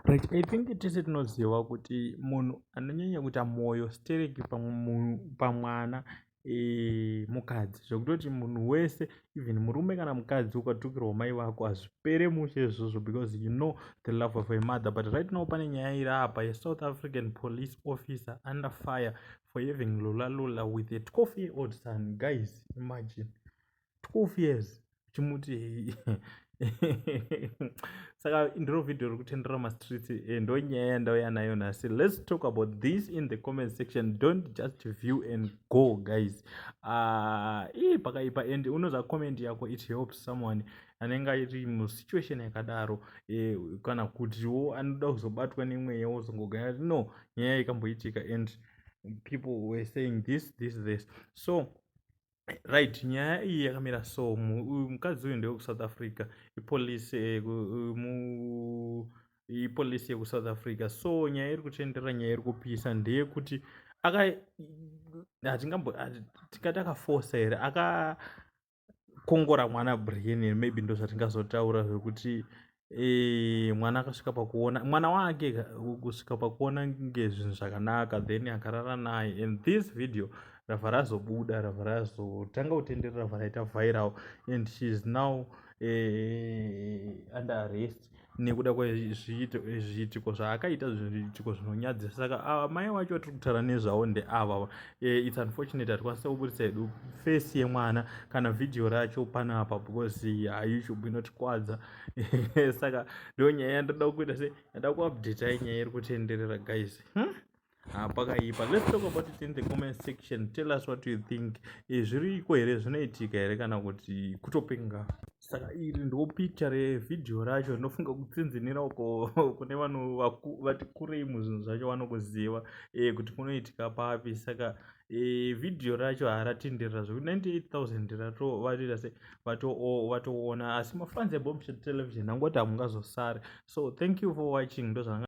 But I think tese tinoziva kuti munhu anonyanya kuita mwoyo stereki pamwana eh, mukadzi zvekutoti munhu wese even murume kana mukadzi ukatukirwa mai vako hazvipere mushe izvozvo because you know the love of a mother but right now pane nyaya iri apa yesouth african police officer under fire for having lula lula with a 12 year old son guys imagine 12 years uchimuti saka ndiro vhidhiyo ri kutendera mastreet eh, ndo nyaya yandauya nayo nhasi let's talk about this in the comment section don't just view and go guys uh, ii pakaipa and unoza comment yako it helps someone anenge airi musituation yakadaro eh, kana kutiwo anoda kuzobatwa nemweya wozongogaya no nyaya ikamboitika and people were saying this this this so right nyaya iyi yakamira so mukadzi uyu ndewekuSouth Africa ipolice eh, mu ipolice yekuSouth Africa so nyaya iri kutenderera nyaya iri kupisa ndeyekuti aka hatingambo tingati akafosa here akakongora mwana Brian maybe ndozvatingazotaura zvekuti mwana akasvika pakuona mwana wake kusvika pakuona nge zvinhu zvakanaka then akarara naye and this video rava razobuda rava razotanga kutendera rava raita viral and she is now eh, under arrest nekuda kwezviitiko zvaakaita zviitiko zvinonyadzisa saka amai ah, wacho tiri kutaura nezvavo ndeava eh, its unfortunate hatikwanisa kuburitsa hedu face yemwana kana vhidhiyo racho panapa because haishubi inotikwadza saka ndo nyaya yandoda kuita se yada kuupdata nyaya iri kutenderera guys hmm? Ah, pakaipa let's talk about it in the comment section tell us what you think eh, zviriko here zvinoitika here kana kuti kutopenga saka iri ndo picha revhidhiyo racho rinofunga kutsinzinira uko kune vanhu vati kurei muzvinhu zvacho vanokuziva eh, kuti kunoitika papi saka e, video racho haratenderera zvekuti 98000 ratovarira se vatoona asi mafans ebombshell television angoti hamungazosare so thank you for watching ndozvanga